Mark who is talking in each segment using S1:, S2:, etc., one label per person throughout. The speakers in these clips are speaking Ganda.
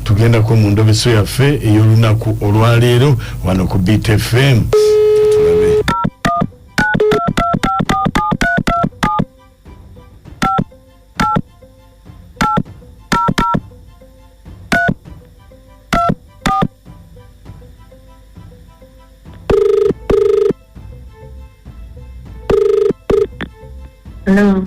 S1: tugendako mu ndobeso yaffe ey'olunaku olwaleero wano ku btfm Hello.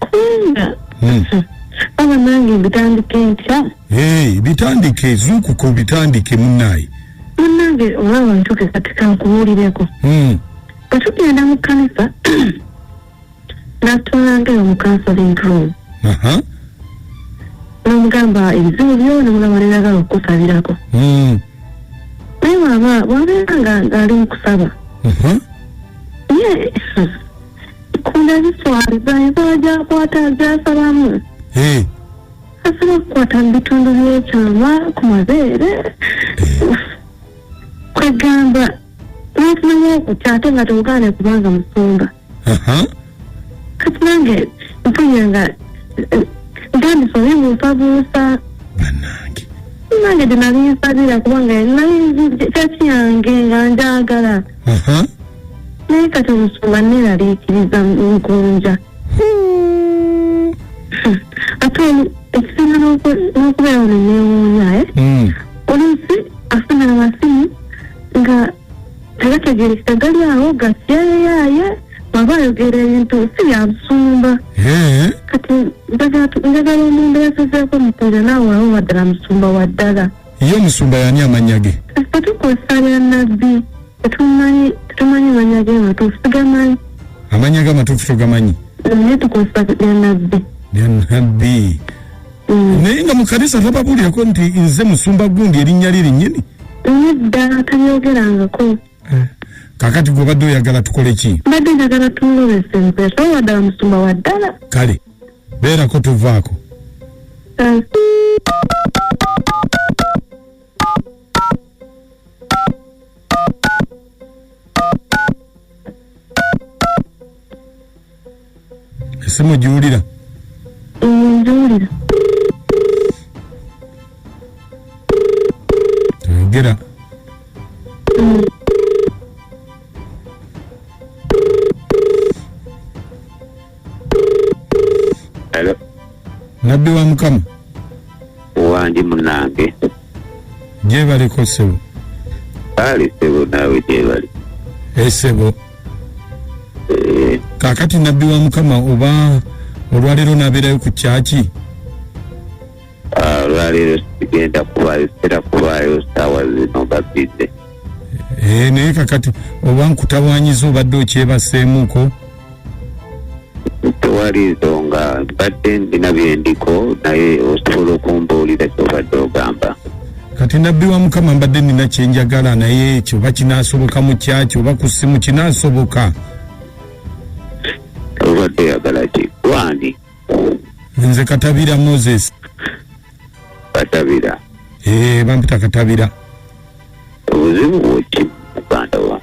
S2: kubanga
S3: Hmm. aba nange mbitandika enkya Hey, bitandike
S2: zuukuka obitandike munnaye munange
S3: olaba ntuke kati kankubuulireko Hmm. bwe tugenda mu kkanisa natwalangayo mu counseling room Aha. nomugamba ebizibu byona mulaba nenagala okukusabirako Hmm. naye waba wabeera nga- ngaali mukusaba Aha. ye kunda ziswaliza ensala gyakwata gyasalamu Eh, asobola okukwata mu bitundu byekyama ku mabeere kwegamba nofunamu okutya ate nga tewugaane kubanga musumba aha. kati nange mpunya nga eh, ntandise obibuusabuusa
S2: banange nange gye
S3: nali nsabira kubanga nali nzi- kyaki yange nga njagala Aha. naye kati omusumba neeraliikiriza nkunja Hmm. ate oli- ekisinga n'oku- n'okubeera ono neewuunya eh? Mm. oluusi afuna amasimu nga tegategerekeka gali awo gatyeyaaye bwaba ayogera ebintu si byabusumba Eh. kati njagala njagala omuntu yasazeeko musajja naawe awo waddala musumba wa ddala Ye omusumba yani
S2: amannya ge? Ffe tukozesa lya
S3: nabbi tetumanyi tetumanyi mannya ge matuufu tugamanyi. Amannya ge amatuufu
S2: togamanyi? Naye tukozesa
S3: lya nabbi. Lya nabbi.
S2: Mm. Naye nga mu kanisa tababuulirako nti nze musumba gundi erinnya lye linnyini? Nedda
S3: tabyogerangako. eh.
S2: kakati gwe obadde oyagala tukole ki mbadde njagala tumulobesa
S3: empeta oba ddala musumba wa ddala kale
S2: beerako tuvaako eh. esimu giwulira
S3: ngiwulira
S2: toyogera
S4: Hello. nabbi
S2: wa mukama
S4: wandi munange
S2: gyebaliko ssebo kale
S4: ssebo naawe gyebali esebo
S2: eh, eh. kakati nabbi wa mukama oba olwaleero nabeerayo ku kyaki ah,
S4: olwaleero sigenda kubayo sitera kubayo saawa zino nga bize eh,
S2: naye kakati oba nkutawanyiza obadde okyebaseemuko
S4: tewali nsonga mbadde ndina byendiko naye osobola okumbuulira kyobadde ogamba kati nabbi
S2: wa mukama mbadde nina kyenjagala naye ekyo oba kinasoboka mu kyaki oba ku ssimu kinasoboka
S4: obadde oyagala ki gwani nze
S2: katabira moses katabira
S4: Eh, bampita
S2: katabira
S4: obuzibu bweki muganda wa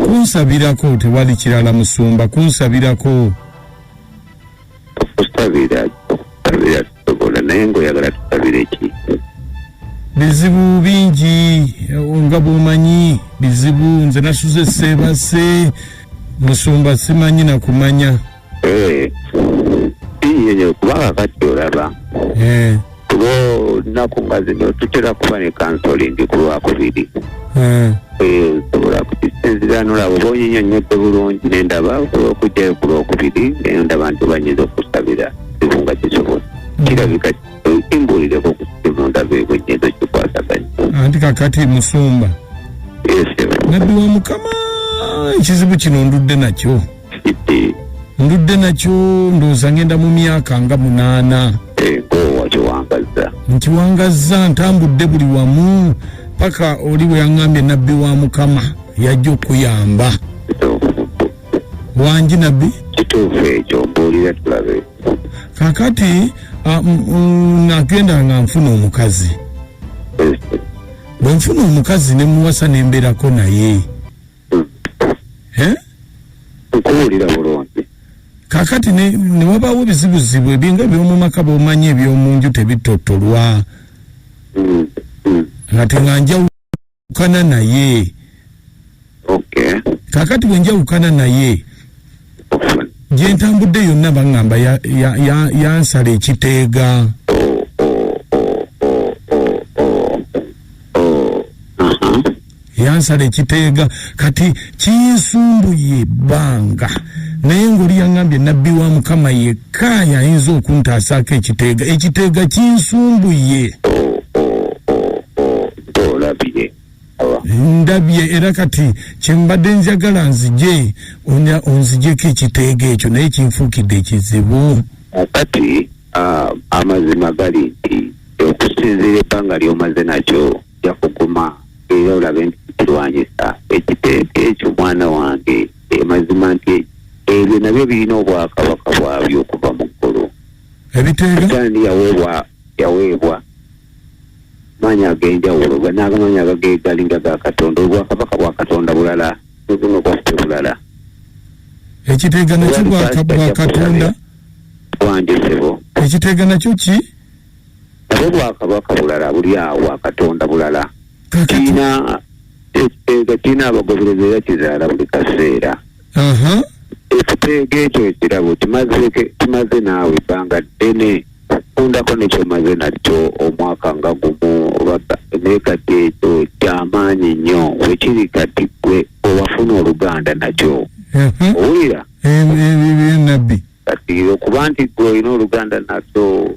S4: kunsabirako
S2: tewali kirala musumba kunsabirako okusabira
S4: okusabira tusobola naye ngaoyagala tusabira ekintu
S2: bizibu bingi eh, nga bwomanyi bizibu nze nasuze seebase musumba simanyi nakumanya Eh,
S4: iye nyo kubanga kati olaba Eh, kuba olunaku nga zino tutera kuba ne kansolingi ku lwakubiri eh, Eh, osobola kukisinzira nolaba oba onyinyonnyodde bulungi nendaba osobola okujjayo ku lwokubiri naye ndaba nti banyinza okusabira kizibu nga kisobola kirabika kimbuulireko ku simu ndaba ebwe nyinza okikwasaganya anti kakati
S2: musumba esebo nabbi wa mukama ekizibu kino ndudde nakyo ndudde nakyo ndowooza ngenda mu myaka nga munaana egowakiwangazza eh, nkiwangazza ntambudde buli wamu paka oli bwe yaŋŋambye nabbi wa mukama yajja okuyamba wangi nabbi kituufu ekyo
S4: mbuulira tulabe kakati
S2: ah, nagenda nga nfuna omukazi eh, eh. bwe nfuna omukazi ne muwasa nembeerako naye eh?
S4: nkuwulira bulungi kakati
S2: newabawo bizibuzibu ebinga ebyomumaka bomanyi ebyomunju tebitotolwa mm, mm. ngate nga njawukana naye kakati bwenjawukana naye gyentambudde yonna baŋŋamba yansala ekiteega yansala ekiteega kati kinsumbuye ebbanga naye ngoli yangambye nabbi wa mukama yekka yayinza okuntaasaako ekiteega ekiteega kinsumbuye ndabye era kati kyembadde njagala nzije onzijeko ekiteega ekyo naye kinfuukidde ekizibu kati
S4: amazima gali nti okusinziira ebbanga lyomaze nakyo ojja kuguma era olabe nti kirwanyisa ekiteeka ekyo mwana wange emazima nti ebyo nabyo birina obwakabaka bwabyo okuva mu ggulu ebiteekaani
S2: yaweebwa
S4: yaweebwa maanyi ag'enjawulo naagamaanyi agagegalinga ga katonda obwakabaka bwa katonda bulala nobuno bwaffe bulala
S2: ekiteega nakyo bwakatonda bwanjosebo
S4: ekiteega nakyo
S2: ki nabo
S4: bwakabaka bulala buli awo bwakatonda bulala kiina ekiteega kiina abagoberezi era kizaala buli kaseera ekiteega ekyo ekirabo kimaze naawe ebbanga ddene okundako nekyomaze nakyo omwaka nga gumu naye kati ekyo kyamaanyi nnyo wekiri kati gwe owafuna oluganda nakyo owulira
S2: nabbi kati
S4: okuba nti gwe olina oluganda naso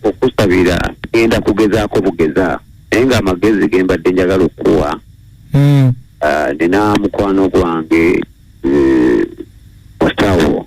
S4: okusabira genda kugezaako bugezaako naye nga amagezi gembadde njagala okukuwa hmm. ah, nina mukwano gwange eh, musawo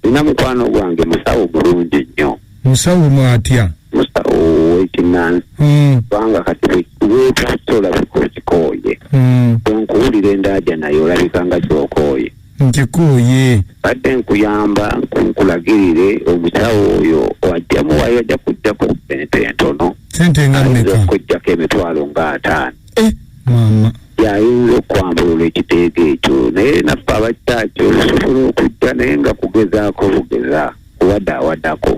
S4: nina mukwano gwange musawo mulungi nnyo musawo mwatya
S2: musawo
S4: wekinansi hmm. kubanga kati wetasola bikokikooye hmm. onkuwulira endaaja naye olabika nga kyokooye nkikooye
S2: badde
S4: nkuyamba nkulagirire omusawo oyo wajja muwayo ajja kujjako sente entono sente nga meka
S2: okujjako emitwalo
S4: nga ataano
S2: eh, mama yayinza
S4: okwambulula ekiteega ekyo naye naffe abakyaki olusobola okujja naye nga kugezaako bugeza kuwada awadako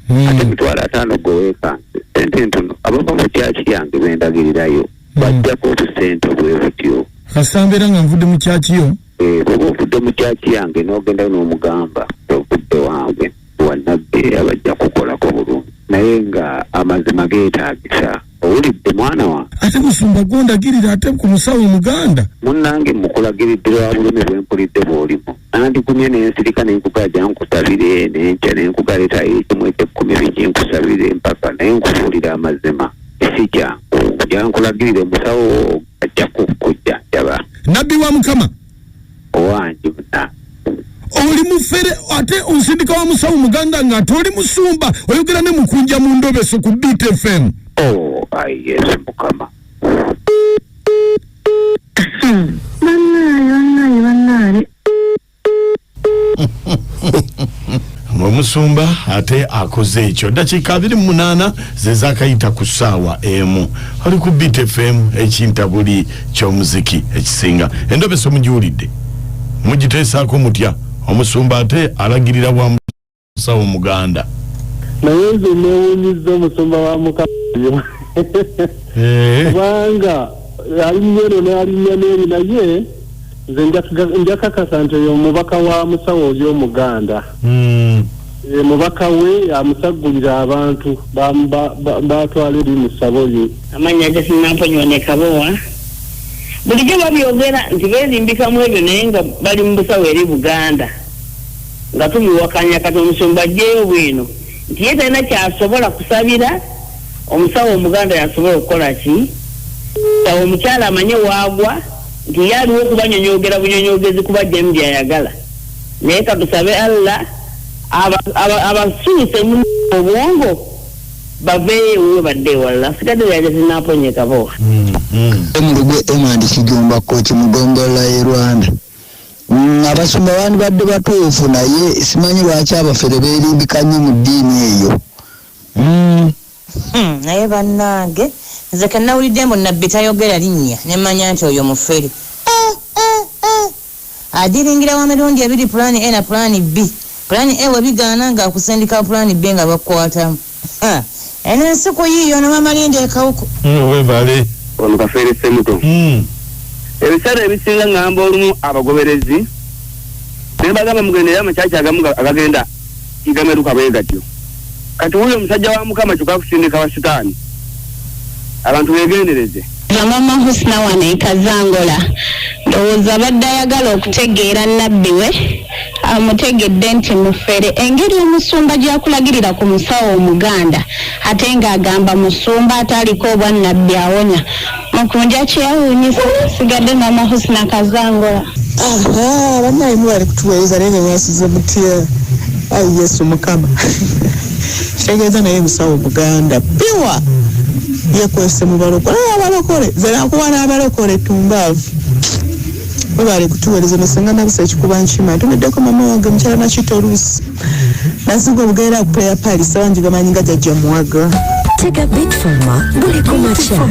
S4: hmm. ate emitwalo ataano gweweekanse sente entono abava mu kyaki yange bendagirirayo hmm. bajjako obusente obwebutyo kasambera nga nvudde
S2: mu kyakiyo Eh, bwoba ovudde mu
S4: kyaki yange n'ogendayo n'omugamba ovudde wange wanabbi abajja kukolako bulungi naye nga amazima geetaagisa owulidde mwana wa ate musumba
S2: gwondagirira ate ku musawo omuganda munnange
S4: mukulagiridde lwa bulumi bwe mpulidde bw'olimu nandigumye n'ensirika nenkugaja nkusabire nenkya nenkugaleetayo ekimu ekyekkumi biki nkusabire mpaka naye nkubuulira amazima si kyangu nja nkulagirire musawo ajja kukujja jaba nabbi wa mukama
S2: owange
S4: muna oli
S2: mufere ate onsindika wa musawo muganda nga ate oli musumba oyogera ne mukunja mu ndobeso ku btfm oh ayi
S4: yesu mukama
S3: bannaaye bannaaye bannaaye
S1: omusumba ate akoze ekyo dakiika abiri munaana zezakayita ku saawa emu ali ku btfm ekintabuli kyomuziki ekisinga endobeso mugiwulidde mugiteesaako mutya omusumba ate alagirira wa sawo muganda naye nze
S5: newunyizza omusumba wa mukamayo eh. kubanga alinnya eno nalinnya neeri naye nze njakakasa nti oyo omubaka wa musawo oli omuganda hmm. eh, mubaka we amusaggulira abantu batwala eri musabo ye amanya
S6: gesinamponyoonekabowa bulijjo babyogera nti beerimbikamu ebyo naye nga bali mu busawo eri buganda nga tubiwakanya kati omusumba ajjeyo bwino nti ye talina kyasobola kusabira omusawo omuganda yasobola okukola ki sawo omukyala amanye waagwa nti ye aliwo okubanyonyogera bunyonyogezi kuba jemu byayagala naye katusabe allah abasuuse mu obwongo baveeyo ewuwe badde ewalala nsigadde lyaja zinaponyeka bowa mm, mm. emulugu
S7: emandikigomba kkoki mugombolola ye rwanda Mm, abasumba bandibadde batuufu naye simanyi lwaki abafere berimbika nnyo mu ddiini eyo mm. hmm,
S8: naye bannange nze kenawulidde mbu nabbi tayogera linnya nemanya nti oyo mufere eh, eh, eh. adiringira wa mirundi ebiri pulaani e na pulaani b pulaani e webigaana ngaakusindika pulaani b nga bakukwatamu Ha, eno ensi kuyiiyo no mama linda ekawuko. Mm, webale.
S1: Ono kafeere
S4: semuto. Mm. Ebiseera ebisinga ngamba olumu abagoberezi nebagamba mugende era amakyaki agamu agagenda igameruka bwegatyo kati wuyo omusajja wa mukama kyoka kusindika wa sitaani abantu begendereze. Zamama Husna
S6: wano e Kazangola ndowooza abadde ayagala okutegeera Nabbi we amutegedde nti mufere engeri omusumba gyakulagirira ku musawo omuganda ate nga agamba musumba ate aliko obwa Nabbi awonya mukunja kyewunyisa sigadde mama Husna Kazangola Aha,
S9: banaye mwebale kutuweereza naye nga mwasuze mutya ayi yesu mukama kitegeeza naye musawo muganda piwa yekwese mu balokole naye abalokole zenakuwa n'abalokole tumbaavu webale kutuwereza nosenga nabisa ekikuba nkima ntumiddeko mama wange mukyala nakita oluusi nasinga obugerera ku player pali sawa
S10: njigamanyi
S9: nga
S10: jajja
S9: muwaga Take
S10: a
S9: bit from
S10: her,
S9: bully
S10: kumacha.